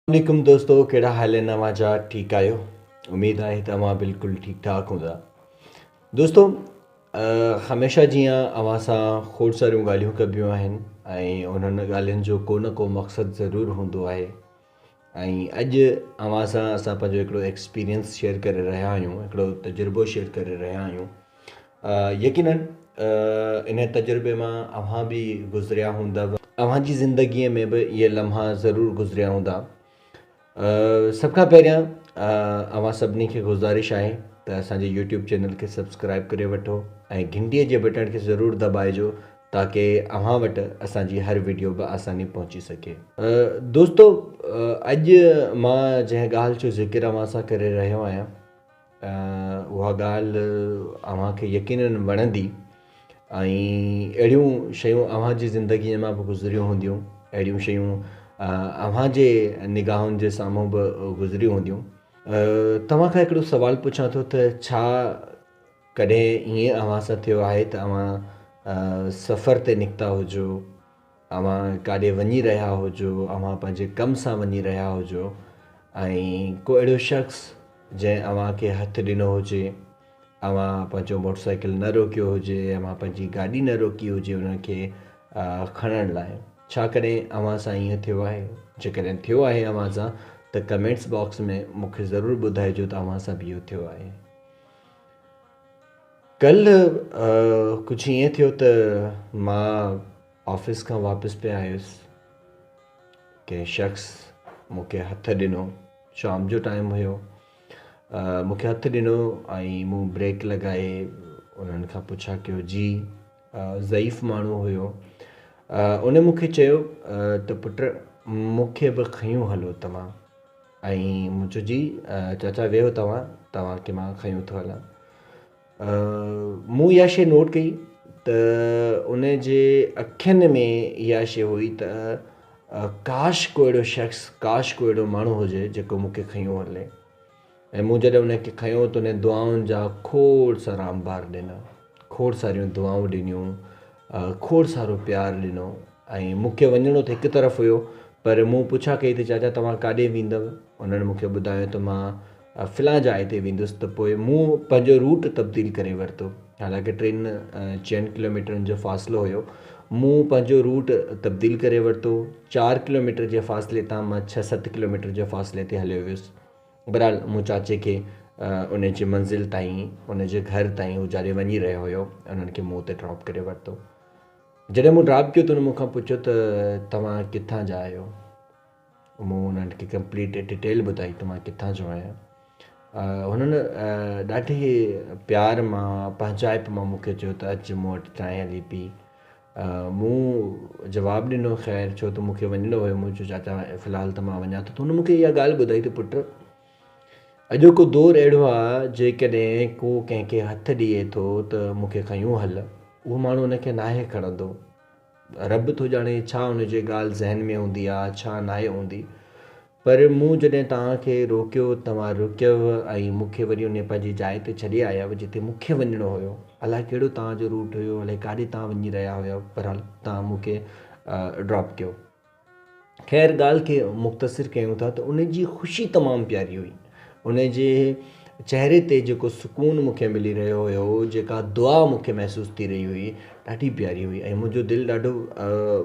عليڪم دوستو ڪهڙا حال آهن اوهان جا ٺيڪ آهيو اميد آهي ته اوهان بلڪل ٺيڪ ٺاڪ هوندا دوستو هميشه جيئن اوهان سان کوڙ ساريون ڳالهيون ڪبيون آهن ۽ انهن ڳالهين جو ڪو نه ڪو مقصد ضرور هوندو آهي ۽ اڄ اوهان سان اسان پنهنجو هڪڙو ايڪسپيرينس شيئر ڪري رهيا آهيون هڪڙو تجربو شيئر ڪري رهيا آهيون يقيناً انهيء تجربي مان اوهان به گذريا هوندؤ. اوهان جي زندگيء ۾ به اهي لمحا ضرور گذريا هوندا. سڀ کان پهريان اوهان سڀني کي گذارش آهي ته اسان جي يوٽيوب چينل کي سبسڪرائيب ڪري وٺو ۽ گهنٽيء جي بٽڻ کي ضرور دٻائجو تاڪه اوهان وٽ اسان جي هر وڊيو به آساني پهچي سگهي. دوستو اڄ مان جنهن ڳالهه جو ذڪر اوهان سان ڪري رهيو آهيان. اها ڳالهه اوهان کي يقينن وڻندي ۽ اهڙيون شيون اوهان جي زندگيء مان به گذريون هونديون، اهڙيون شيون اوهان جي نگاهن جي سامهون به گذريون هونديون. توهان کان هڪڙو سوال پڇان ٿو ته ڇا ڪڏهن ائين اوهان سان ٿيو آهي ته اوهان سفر تي نڪتا هجو، اوهان ڪاڏي وڃي رهيا هجو، اوهان پنهنجي ڪم سان وڃي رهيا هجو ۽ ڪو اهڙو شخص جنهن اوهان کي هٿ ڏنو هجي، اوهان پنهنجو موٽر سائيڪل نه روڪيو هجي، اوهان پنهنجي گاڏي نه روڪي هجي ان کي کڻڻ لاء، ڇا ڪڏهن اوهان سان ائين ٿيو آهي؟ جيڪڏهن ٿيو آهي اوهان سان ته ڪمينٽس باڪس ۾ مون کي ضرور ٻڌائجو ته اوهان سان به اهو ٿيو آهي. ڪلهه ڪجهه ائين ٿيو ته مان آفيس کان واپس پئي آيس ڪنهن شخص مون کي هٿ ڏنو شام جو ٽائيم هيو مون کي هٿ ڏنو ۽ مون بريڪ لڳائي انهن کان پڇا ڪيو جي ضعيف ماڻهو هيو ان مون کي چيو ته پٽ مون کي به کنيون هلو توهان ائين مون چيو جي چاچا ويهو توهان توهان کي مان کنيو ٿو هلان. مون اها شيء نوٽ ڪئي ته ان جي اکين ۾ اها شيء هئي ته ڪاش ڪو اهڙو شخص ڪاش ڪو اهڙو ماڻهو هجي جيڪو مون کي کنيو هلي ۽ مون جڏهن ان کي کنيو ته ان دعائن جا کوڙ سارا انبار ڏنا. کوڙ ساريون دعائون ڏنيون کوڙ سارو پيار ڏنو ۽ مونکي وڃڻو ته هڪ طرف هيو پر مون پڇا ڪئي ته چاچا توهان ڪاڏي ويندؤ انهن مونکي ٻڌايو ته مان فلان جاء تي ويندس ته پوء مون پنهنجو روٽ تبديل ڪري ورتو حالانڪه ٽن چئن ڪلوميٽرن جو فاصلو هيو مون پنهنجو روٽ تبديل ڪري ورتو چار ڪلوميٽر جي فاصلي تان مان ڇهه ست ڪلوميٽر جي فاصلي تي هليو ويس بھرحال مون چاچي کي ان جي منزل تائين ان جي گھر تائين ھو جڏھن وڃي رھيو ھيو انھن کي مون تي ڊراپ ڪري ورتو. جڏھن مون ڊراپ ڪيو ته انھن مون کان پڇيو ته توھان ڪٿان جا آھيو؟ مون انھن کي ڪمپليٽ ڊيٽيل ٻڌائي ته مان ڪٿان جو آھيان. ھنن ڏاڍي پيار مان پنھنجائپ مان مون کي چيو ته اچ مون وٽ چانھه ھلي پي. مون جواب ڏنو، خير، ڇو ته مون کي وڃڻو هيو. مون چيو، چاچا، في الحال ته مان وڃان ٿو. ته هن مون کي اها ڳالهه ٻڌائي ته پٽ، اڄوڪو دور اهڙو آهي، جيڪڏهن ڪو ڪنهن کي هٿ ڏئي ٿو ته مون کي کنيون هل، اهو ماڻهو ان کي ناهي کڻندو. رب ٿو ڄاڻي ڇا ان جي ڳالهه ذهن ۾ هوندي آهي، ڇا ناهي هوندي. پر مون جڏهن توهان کي روڪيو، توهان رڪيوء ۽ مون کي وري انهيء پنهنجي جاء تي ڇڏي آيائو، جتي مون کي وڃڻو هيو. الائي ڪهڙو توهان جو روٽ هيو، الائي ڪاڏي توهان وڃي رهيا هيائو، بهرحال توهان مون کي ڊراپ ڪيو. خير، ڳالهه کي مختصر ڪيون ٿا ته ان جي خوشي تمام پياري هئي. ان جي چهري تي جيڪو سڪون مون کي ملي رهيو هيو، جيڪا دعا مون کي محسوس ٿي رهي هئي، ڏاڍي پياري هئي ۽ منهنجو دل ڏاڍو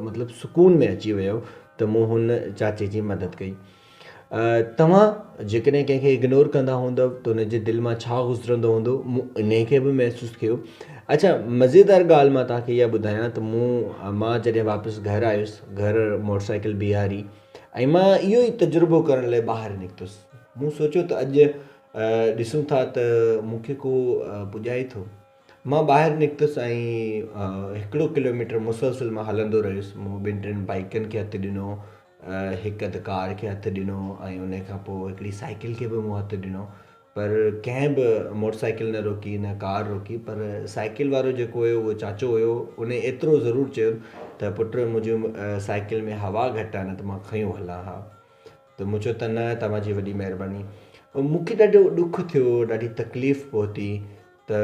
مطلب سڪون ۾ اچي ويو ته مون هن چاچي جي مدد ڪئي. توهان جيڪڏهن ڪنهن کي اگنور ڪندا هوندؤ ته ان جي دل مان ڇا گذرندو هوندو، مون انهي کي به محسوس ڪيو. اڇا مزيدار ڳالهه مان توهان کي اها ٻڌايان ته مون مان جڏهن واپس گهر آيس، گهر موٽرسائيڪل بيهاري، ۽ مان اهو ئي تجربو ڪرڻ لاء ٻاهر نڪتس. مون سوچيو ته اڄ ڏسون ٿا ته مون کي ڪو پڄائي ٿو. مان ٻاهر نڪتس ۽ هڪڙو ڪلوميٽر مسلسل مان هلندو رهيس. مون ٻن ٽن بائيڪن کي هٿ ڏنو، هڪ اڌ ڪار کي هٿ ڏنو ۽ ان کان پوء هڪڙي سائيڪل کي به مون هٿ ڏنو. پر ڪنهن به موٽر سائيڪل نه روڪي نه ڪار روڪي پر سائيڪل وارو جيڪو هيو اهو چاچو هيو ان ايترو ضرور چيو ته پٽ منهنجي سائيڪل ۾ هوا گهٽ آهي نه ته مان کنيو هلان ها ته مون چيو ته نه توهان جي وڏي مهرباني مون کي ڏاڍو ڏک ٿيو ڏاڍي تڪليف پهتي ته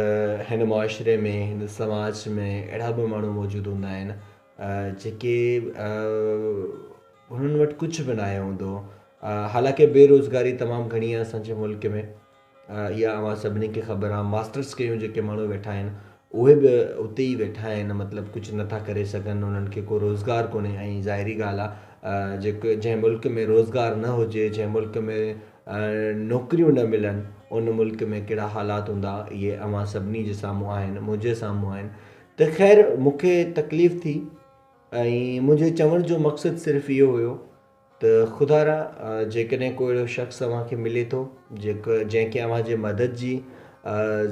هن معاشري ۾ هن سماج ۾ اهڙا به ماڻهو موجود هوندا آهن جيڪي هنن وٽ ڪجهه به ناهي هوندو حالانڪه بي روزگاري تمام گهڻي آهي اسان جي ملڪ ۾ اها اوهان سڀني کي خبر آهي ماسٽرس ڪيون جيڪي ماڻهو ويٺا آهن اهي به اتي ئي ويٺا آهن مطلب ڪجهه نٿا ڪري سگهن انهن کي ڪو روزگار ڪونهي ۽ ظاهري ڳالهه آهي جيڪو جنهن ملڪ ۾ روزگار نه هجي جنهن ملڪ ۾ نوڪريون نه ملن ان ملڪ ۾ ڪهڙا حالات هوندا اهي اوهان سڀني جي سامهون آهن منهنجي سامهون آهن ته خير مون کي تڪليف ٿي ۽ منهنجو چوڻ جو مقصد صرف اهو هيو ته خدا را جيڪڏهن ڪو اهڙو شخص اوهان کي ملي ٿو جيڪو جنهن کي اوهان جي مدد جي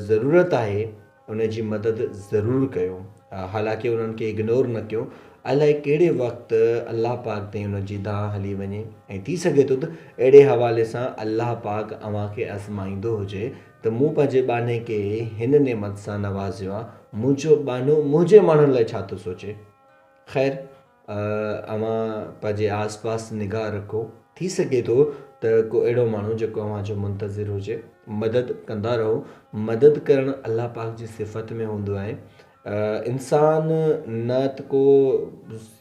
ضرورت آهي ان جي مدد ضرور ڪيو حالانڪه انهن کي اگنور نه ڪيو الائي ڪهڙي وقت الله پاڪ تي ان جي دانهن هلي وڃي ۽ ٿي سگهي ٿو ته اهڙي حوالي سان الله پاڪ اوهان کي ازمائيندو هجي ته مون پنهنجي ٻانهي کي هن نعمت سان نوازيو آ، منهنجو ٻانهو منهنجي ماڻهن لاء ڇا ٿو سوچي؟ خير اوهان پنهنجي آس پاس نگاهه رکو، ٿي سگهي ٿو ته ڪو اهڙو ماڻهو جيڪو اوهان جو منتظر هجي، مدد ڪندا رهو، مدد ڪرڻ الله پاڪ جي صفت ۾ هوندو آهي، انسان نه ته ڪو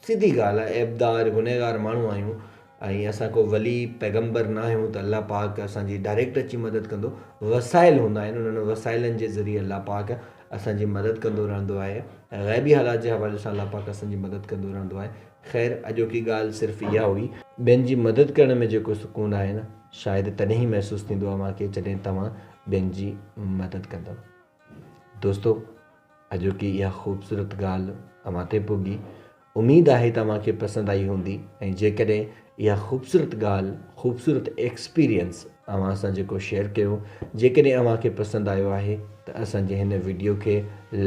سڌي ڳالهه آهي عيبدار، گنهگار ماڻهو آهيون، ۽ اسان ڪو ولي پيغمبر نه آهيون ته الله پاڪ اسان جي ڊائريڪٽ اچي مدد ڪندو، وسائل هوندا آهن انهن وسائلن جي ذريعي الله پاڪ اسان جي مدد ڪندو رهندو آهي، غيبي حالات جي حوالي سان الله پاڪ اسان جي مدد ڪندو رهندو آهي، خير اڄوڪي ڳالهه صرف اها هئي. ٻين جي مدد ڪرڻ ۾ جيڪو سڪون آهي نه شايد تڏهن ئي محسوس ٿيندو آهي اوهان کي جڏهن توهان ٻين جي مدد ڪندؤ دوستو اڄوڪي اها خوبصورت ڳالهه اوهان تائين پڳي اميد آهي توهان کي پسند آئي هوندي ۽ جيڪڏهن اها خوبصورت ڳالهه خوبصورت ايڪسپيرينس اوهان سان جيڪو شيئر ڪيو جيڪڏهن اوهان کي پسند آيو آهي ته اسان جي هن وڊيو کي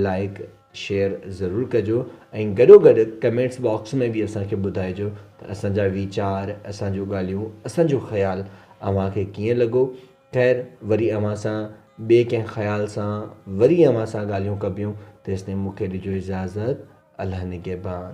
لائيڪ شيئر ضرور ڪجو ۽ گڏو گڏ ڪمينٽس باڪس ۾ به اسان کي ٻڌائجو ته اسان جا ويچار اسان جون ڳالهيون اسان جو خيال اوهان کي ڪيئن لڳو خير وري اوهان سان ٻي ڪنهن خيال سان وري اوهان سان ڳالهيون ڪبيون تيستائين مون کي ڏجو اجازت الله نگهبان.